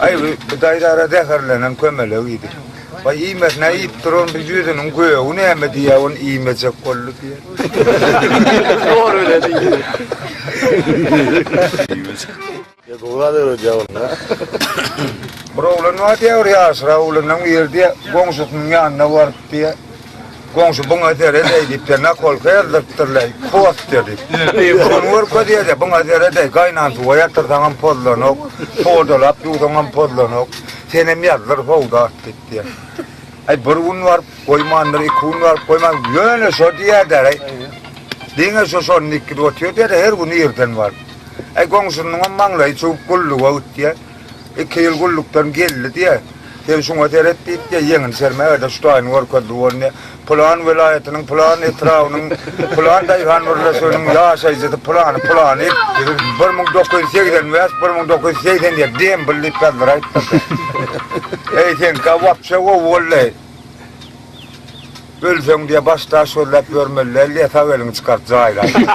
Aý bu daýzara zäherlenen kömelek idi. Waý iýmesin aý iýip duran bu ýüzüniň gögi näme diýýä ony iýmejek boldy diýýä. Dogry bile diýdi. Ýa dogry zat öwredýä ol ha. Bir oglan bar diýýä bir ýaşrak oglandan bu ýer diýýä goňşusynyň ýanyna baryp diýýä Goňşy buňa seredeý diýip, bir nakolka ýazdyrtdyrlaý, poster diýip. Muny görkez ýerde, buňa seredeý, gaýnan suwa ýatyrsaňam pozlanok, sodalap ýuwsaňam pozlanok, senem ýazdyr sowdat diýip diýýär. Äý, bir gün baryp goýmandyr, iki gün baryp goýmandyr, ýöne şo diýýärdi-ä, diňe şo şony dikgidip otyrdy-da, her gün irden baryp. Äý, goňşynyňam maňlaýy çüwüp, gulluga git diýýär. Iki ýyl gullukdan geldi diýe, sen şuňa seret diýip diýe, ýeňini sermäge-de şu taýyny görkezdi bol diýe. Pylan welaýatynyň, pylan etrabynyň, pylan daýhan birleşiginiň ýaşaýjysy pylany, pylany, bir müň dokuz ýüz segsen bäş, bir müň dokuz ýüz segsen ýedi dembil diýip sazlar aýtdyrdy. Eý, seňkä wapşe gowy boldy. Ölseň diýe, baş daş gözläp ýörmeli däl diýe, sag eliňi çykart jaýla diýdi.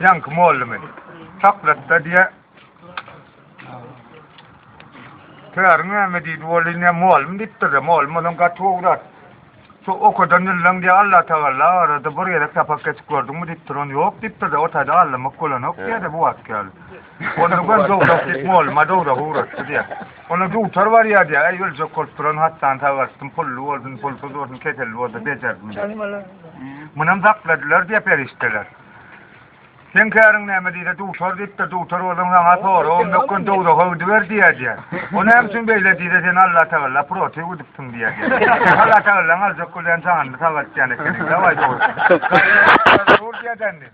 Ýaňky mollumy? Çaklatda diýe. Täriň näme diýdi bolýa ne molum diýipdir-de, molum bolan gaty gowy zat. Şu okadan ýyllan diýe Allah tagalla arada bir gezek sapak geçip gördüňmi diýipdir, ony ýok diýipdir-de, o taýda allanmak bolanok diýýä-de bu wagtky ýaly. Ony gör dowrak diýip molluma dowragy ugratdy diýýär. Onda dutar barýar diýýär. Äý öljek bolup duran hassany sagaltdym, pully bolsun, pulsuz bolsun, keselli bolsa bejerdim diýip. Munam zapladylar diýýär perişdeler. Seň käriň näme diýse dutar diýipdir, dutar bolsaň saňa soragym ýok, gön dowraga gidiber diýýär diýýär. O näme üçin beýle diýse seni Allatagalla protew edipdim diýýär diýýär. Allatagallaň aljak bolýan janyny sagaltýan ekeniň, dawaý dur. Dur diýýär dändi.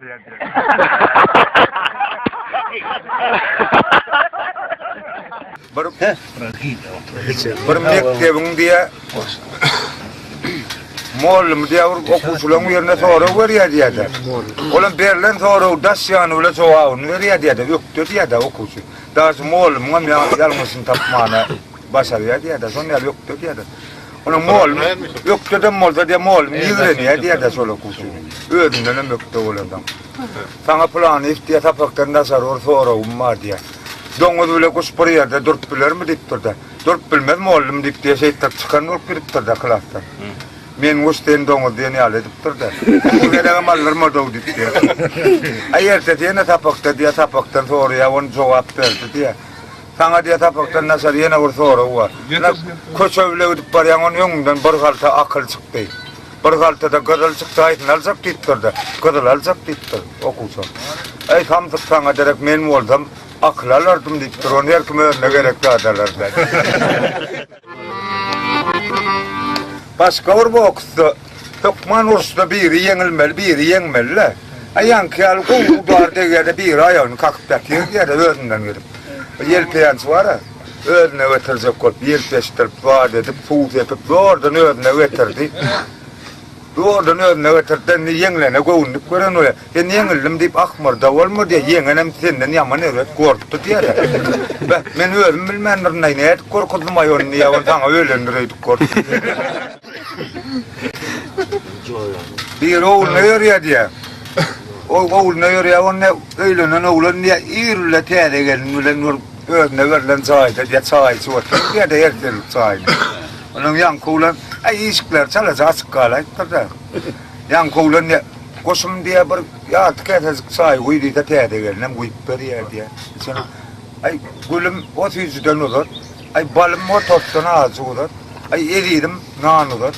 Bir bir mekdebiň diýe Mollum diýe bir okuwçylaryň ýerine sorag berýär diýýärdi. Olam berlen sorag daş ýany bilen jogabyny berýär diýýärdi. Ökde diýýärdi okuwçy. Daşy mollumyň hem ýalňyşyny tapmana. başarýar diýýärdi, şonuň ýaly ökde diýýärdi. Onuň moly ökdedem bolsa diýär, moly ýigrenýär diýýärdi şol okuwçy. Özünden hem ökde bolandan. Saňa pylany iş diýär, sapakdan daşary bir soragym bar diýär. Doňuz bile guş bir ýerde durup bilermi diýipdir-de. Durup bilmez mollum diýip diýär, şeýtdir çykan bolup gidipdir-de klasdan. Men guş sen doňuz diýen ýaly edipdir-de. Bu gelegem aldyrmady-ow diýip diýär. Aý ertesi ýene sapakda diýär, sapakdan soraýar, ony jogap berdi diýär. Saňa diýe sapakdan naçar ýene bir sorag bar. Ýene köçe bile gidip barýaň onuň öňünden bir halta akyl çykdy. Bir haltada gyzyl çykdy haýsyny aljak diýipdirde. Gyzyly aljak diýipdir okuwçam. Eý samsyk saňa derek men bolsam akyly alardym diýipdir. Ony her kim özüne gerek zady alar. Başga bir boksda hökman uruşda biri ýeňilmeli, biri ýeňmeli-le. Aýanky ýaly gowy ubar degýär-de biri aýagyny kakyp ýatyr diýýär özünden gelip. Ýelpeýänçi bar-a, özüne getirjek bolup ýelpeşdirip, zat edip, suw sepip zordan özüne getirdi. Ýoldan özüne getirip, indi ýeňlene göwünlik gören we indi ýeňildim diýip ahmyrda bolma diýýär, ýeňenem senden ýaman erbet gorkdy diýýär-ä. Be, men özüm bilmändirin-aý, nädip gorkuzdym-aý ony diýýär, ony saňa öýlendir öýdüp gorkdy diýýär. Biri ogluna ýörýär diýýär. Ol ogluna ýörýär, onda öýlenen oglan diýýär, ir bile täze gelin bilen bir özüne berlen jaýda diýýär, çaý içip otyr diýýär-de, ertirlik çaýyny. Onuň ýaňky oglan, Aý, işikleri çalaja açyk galaýypdyr-da. Ýaňky oglan ne, goşum diýýär, bir ýarty käsejik çaý guý diýse, täze gelinem guýup berýär diýýär. Şonda, Aý, gülüm, o süýjüden uzat. Aý, balym, o tortdan azajyk uzat. Aý, ezizim, nan uzat.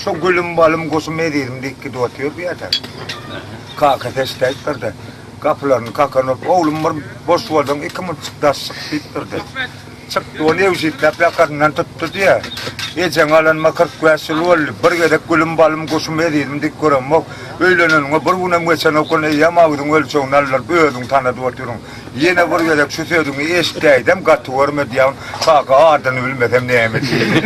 Şo gülüm, balym, goşum, ezizim diýip gidip otyr bu ýerde. Kakasy eşidäýipdir-de, gapylaryny kakan urup, Oglum, bir boş bolsaň, iki munçuk daş çyk diýipdir-de. Çykdy ol ewjikläp ýakasyndan tutdy diýýär. Ejeň alanyma kyrk bäş ýyl boldy. Bir gezek gülüm, balym, guşum, ezizim diýip göremok. Öýleneniňe bir günem geçenokyn, eýýäm agyzyň ölçegini aldyryp, özüň tanadyp otyryň. Ýene bir gezek şu sözüňi eşidäýdem, gaty görme diýýäň. Kaka adyny bilmesem näme diýeýin.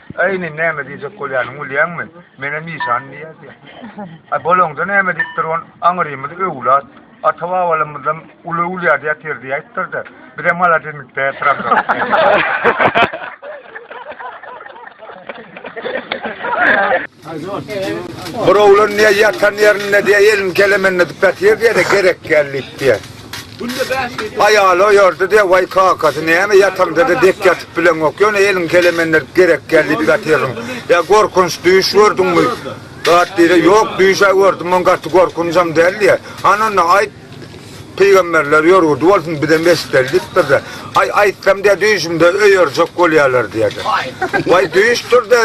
Äý, indi näme diýjek bolýanyny bilýäňmi? Menem işan diýýär diýýär. Ä, bolaňda näme diýip durun, aňyrymyz öwlat, ata-babalarymyzdan uly öwlýady ýatyr diýäýipdir-de, bizem maladesmik däýip duramzok. Bir oglan diýýär, ýatan ýerinde diýýär, elini keleminde diýip ýatyr diýýär-de, gerek gel diýip diýýär. Aýaly oýardy diýýär, Waý, kakasy, näme ýataňda-da dek ýatyp bileňok, ýöne eliňi keleminde diýip gerek gel diýip ýatyrdyň. Ýa gorkunç düýş gördüňmi? Zat diýýär, Ýok, düýş-ä gördüm, muň gaty gorkunjam däl diýýär. Hany onda aýt, pygamberler ýörgürdi bolsun, bizem eşideli diýip bir-de. Aý, aýtsam diýýär, düýşümde öýerjek bolýarlar diýýär-de. Waý, düýşdür-de,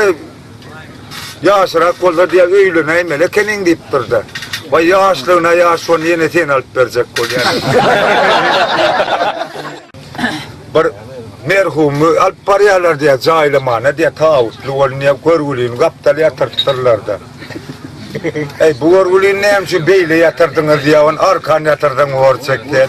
Ýaşyrak bolsa diýýär, öýlenäýmeli ekeniň diýipdir-de. Waý, ýaşlygyna ýaş, şony ýene sen alyp berjek bolýaň. Bir merhumy alyp barýarlar diýýär, jaýlamana diýýär, tabutly bolun diýýär, görgülini gapdal ýatyrtdyrlar-da. Äý, bu görgülini näme üçin beýle ýatyrdyňyz diýýär, ony arkan ýatyrsaň borçek diýýär.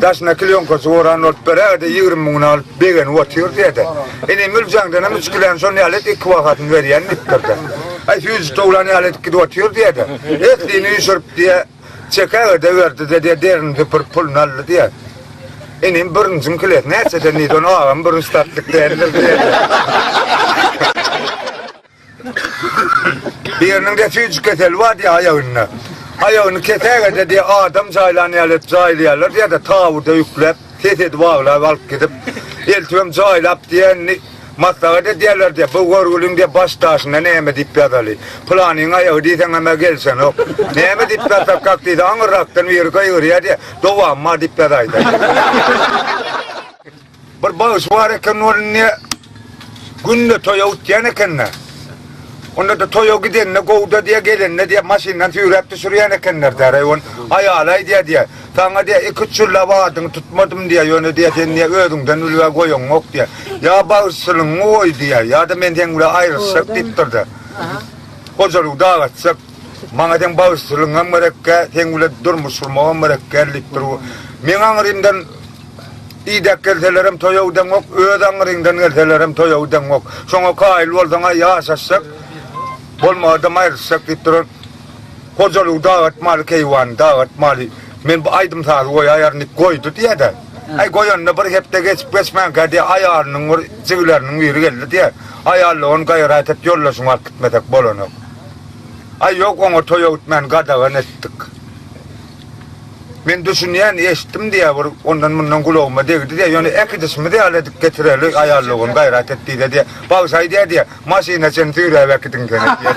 Daşyna klýonkasy oran bolup bir ägirde ýigrimi müňüni alyp begenip otyr diýede. Ine Müljaňdanam üç kiläni şon ýaly et iki bahasyny berýän diýipdirde. Aý süýji towlan ýaly edip gidip otyr diýede. Etlini üýşürip diýe çeke ägirde berdide diýe derini süpürip puluny aldy diýe. Inim bürünjiň kilesi näçeden diýdi ony agam bürünç satlyk däldir diýede. Biriniň refüjik keseli bar diýýär aýagynda. Aýagyny kesägede diýýär adam jaýlan ýaly edip jaýlaýarlar diýýär-de, taburda ýükläp, ses edip aglap alyp gidip, eltibem jaýlap diýýär, indi maslahat edýärler diýýär, bu görgüliň diýýär baş daşyna näme diýip ýazaly. Pylanyň aýagy diýseňem-ä gelişenok. Näme diýip ýazsakak diýse, aňyrrakdan biri gygyrýar diýýär, dowamy bar diýip ýazaýda. Bir bagşy bar eken, ol indi günde toýa utýan eken-de. Onda-da toýa gidende gowuda diýýär, gelende diýýär, maşyndan süýräp düşürýän ekenler diýýär. Eý, ol aýaly aýdýar diýýär, Saňa diýýär, iki-üç ýyllap adyňy tutmadym diýýär, ýöne diýýär, sen diýýär, özüňden ülgä goýaňok diýýär. Ýa bagşyçylygyňy goý diýýär, ýa-da men seň bilen aýrylyşjak diýipdir-de, gojalygy dagaçjak. Maňa seň bagşylygyňam gerekkä, seň bilen durmuş gurmagam gerekkä diýip dur. Meň aňrymdan idäp gelselerem toýa gideňok, öz aňryňdan gelselerem toýa gideňok. Şoňa kaýyl bolsaň-a ýaşaşjak, bolmagadam aýrylyşjak diýip duran hojalygy dag atmaly, keýwany dag atmaly. Men bu aýdym-sazy goýaýaryn diýip goýdy diýýä-de. Aý, goýanyna bir hepde geçip-geçmänkä diýýä, aýalynyň bir jigileriniň biri geldi diýýä. Aýal-da ony gaýrat et, ýoldaşyňy alyp gitmesek bolanok. Aý ýok oňa toý öwütmän gadagan etdik. Men düşünýän eşitdim diýýär bir ondan mundan gulagyma degdi diýýär ýöne äkidişimiz ýaly edip getireli aýallygym gaýrat et diýdi diýýär bagşy aýdýar diýýär maşyna çen süýräp äkidiň sen diýýär.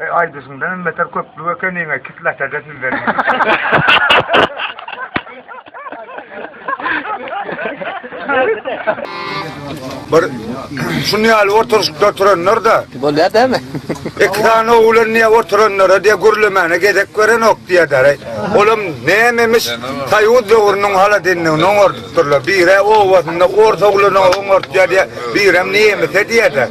Eý aýdyşyňdan hem beter köplük ekeniňä kislata-da sizleriň. Bir şuny ýaly oturyşyp oturanlar da. Bolýar dämi? Iki sany oglan niýe oturanlara diýe gürlemäne gezek berenok diýerler. Olam nämemiş? Soýuz döwrüniň haladinligini oňardy. Durlar bire obasynda ors ogluny oňartýar diýýär, birem nemise diýýär-de.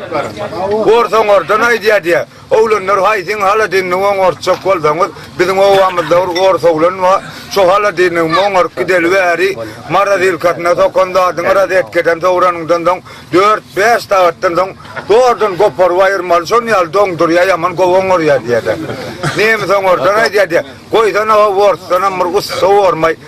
Ors oňardan aýdýar diýýär, Oglanlar haýsyň haladinini oňartjak bolsaňyz, biziň obamyzda bir ors oglan bar, şo haladinimi oňaryp gideli bäri, morazilkasyna sokan zadyňy rozetkeden sowranyňdan soň dört-bäş sagatdan soň zordan goparyp aýyrmaly, şonuň ýaly doňdurýar, ýaman gowy oňarýar diýýär-de. Nemis oňardan aýdýar diýýär, Goýsana-ha orsdanam bir ussa bormaý.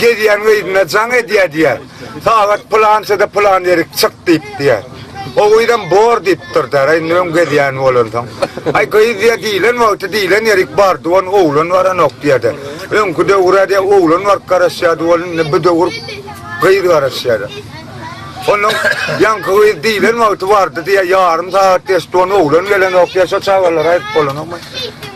Gezýän gyzynda jaň edýär diýýär. Sagat pylançada pylan ýerik çyk diýip diýýär. O gyzam bor diýip durýar. Aý indi öň gezýän bolansoň. Aý gyz diýýär diýlen wagty diýlen ýerik bardy ony oglan baranok diýýär-de. Öňki döwür-ä diýýär oglan baryp garaşýardy ol indi bu döwür gyz garaşýar. Onnoň ýaňky gyz diýlen wagty bardy diýýär ýarym sagat geçdi ony oglan gelenok diýýär şo çagalara aýdyp bolanokmy.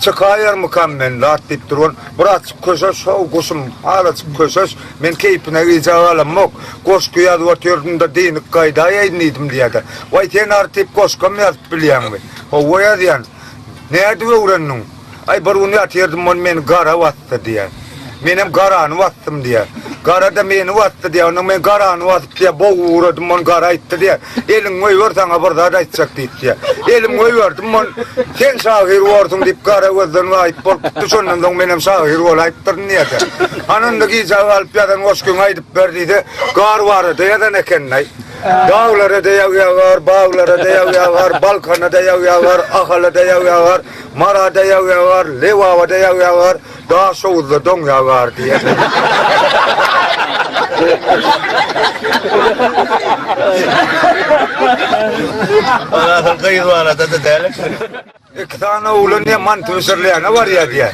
Çykaýarmykam men zat diýip durun. Birazçyk köşeş, how, guşum, azajyk köşeş. Men keýpine gijä galamok. Goşgy ýazyp otyryn-da, dynyk gaýdaýaýyn diýdim diýýär-de. Waý, sen artyp goşgam ýazyp bilýäňmi? Hawa, ýazýan. Nädip öwrendiň? Aý, bir gün ýatyrdym, ony meni gara bas. basdy diýýär. Menem garany basdym diýýär. Gara-da meni basdy diýýär. Onda men garany basyp diýýär, bogy uradym, ony gara aýtdy diýýär. Eliňi goýber, saňa bir zat aýtjak diýip diýýär. Elimi goýberdim, ony Sen şahyr borsuň diýip gara gözden gaýyp bolup gitdi. Şondan soň menem şahyr bolaýypdyryn diýýär. Hany onda gijä galyp ýazan goşgyňy aýdyp ber diýse, gar barada ýazan ekeniň-aý. Daglara-da ýagýar gar, baglara-da ýagýar gar, Balkana-da ýagýar gar, Ahala-da ýagýar gar, Marada ýag ýagar, Lebabada ýag ýagar, Daşoguzda doň ýagar diýýärler. Iki sany oglan diýýär, manty bişirilýäne barýar diýýär.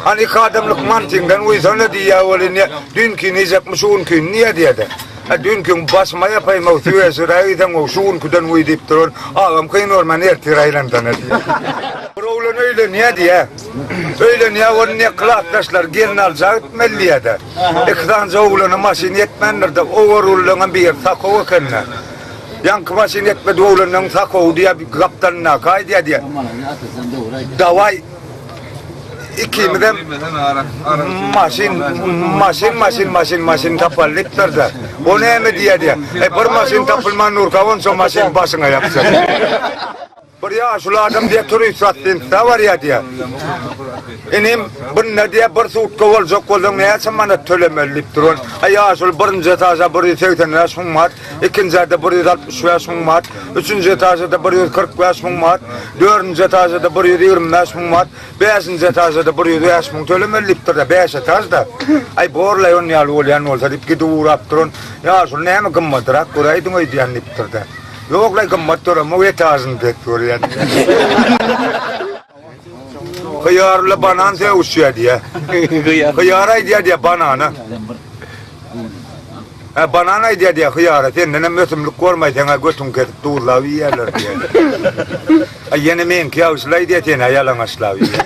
Hany iki adamlyk mantyňdan guýsana diýýär, ol indi düýnkini iýjekmi, şu günki niýe diýýär-de. Hä dünküň başyma ýapaýmaw süýeşiräk iýseňow şu günküden goý diýip duran agam kyn görmän ertir aýlansana diýýär. Bir oglan öýlenýä diýýä. Öýlenýä ony ne klasdaşlary gelin aljak gitmeli diýýädä. Iki sanyja oglana maşyn ýetmändirde ogar ullaňam bir ýer sakow ekende. Ýaňky maşyn ýetmedik oglanlaň sakowy diýýä gapdalyndaky aýdýa diýýä. Dawaý Ikimizem maşyn, maşyn, maşyn, maşyn, maşyn tapal diýipdir-de. O näme diýýär diýýär. Eý, bir maşyn tapylman durka, onça maşyn başyňa ýapyşar. Bir ýaşuly adam diýýär, turistwatlinstda barýar diýýär. Inim, bunda diýýär, bir sutka boljak bolsaň, näçe manat tölemeli diýipdir. Ol, Aý, ýaşuly, birinji etaža bir ýüz segsen bäş müň manat. ikinji ýerde bir ýüz altmyş bäş müň manat, üçünji etažda bir ýüz kyrk bäş müň manat, dördünji etažda bir ýüz ýigrimi bäş müň manat, bäşinji etažda bir ýüz bäş müň tölemeli diýipdir-de, bäş etaž-da. Aý, bor-laý, ony ýaly bolýan bolsa, diýip, gidip ugrap duran, Ýa, şol näme gymmadyrak göräýdiň öýdýän, diýipdir-de. Ýok-laý, gymmat döremok, etažyny pes görýän diýýär. Hyýarly banan sögüşýär diýýä. Hyýar aýdýar diýýä banana. Hä, banan aýdýar diýýä hyýara, sendenem ösümlik gormaýsaň-a götüňi kesip duzlap iýerler diýýä. Ýene meňki ýagşylaý diýýä, sen-ä ýalaňaçlap iýýäň.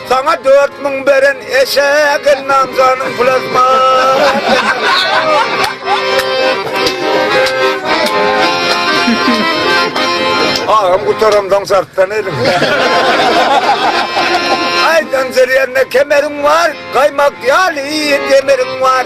Saňa dört müň beren eşek elnam janyň Agam gutaramdan sartdan elim. Aýdan zerýärine kemeriň bar, gaýmak ýaly kemeriň bar.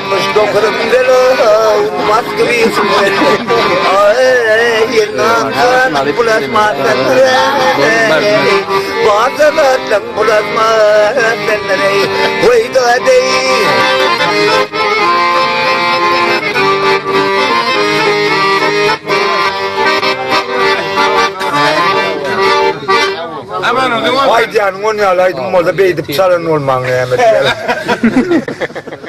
Aýdýanyň on ýaly aýdym bolsa beýdip çalan bolmaň näme diýýäň.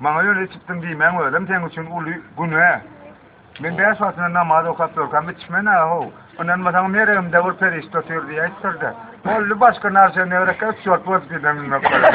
Maňa ýöne içipdim diýmäň özem seň üçin uly günä. Men bäş wagtyna namaz okap ýörkäm içmen-ä how. Ynanmasaň meregimde bir perişde otyr diýip aýtdyr-da. Boldy başga narsa ne gerek üç ýurt welosipedem münmek gerek.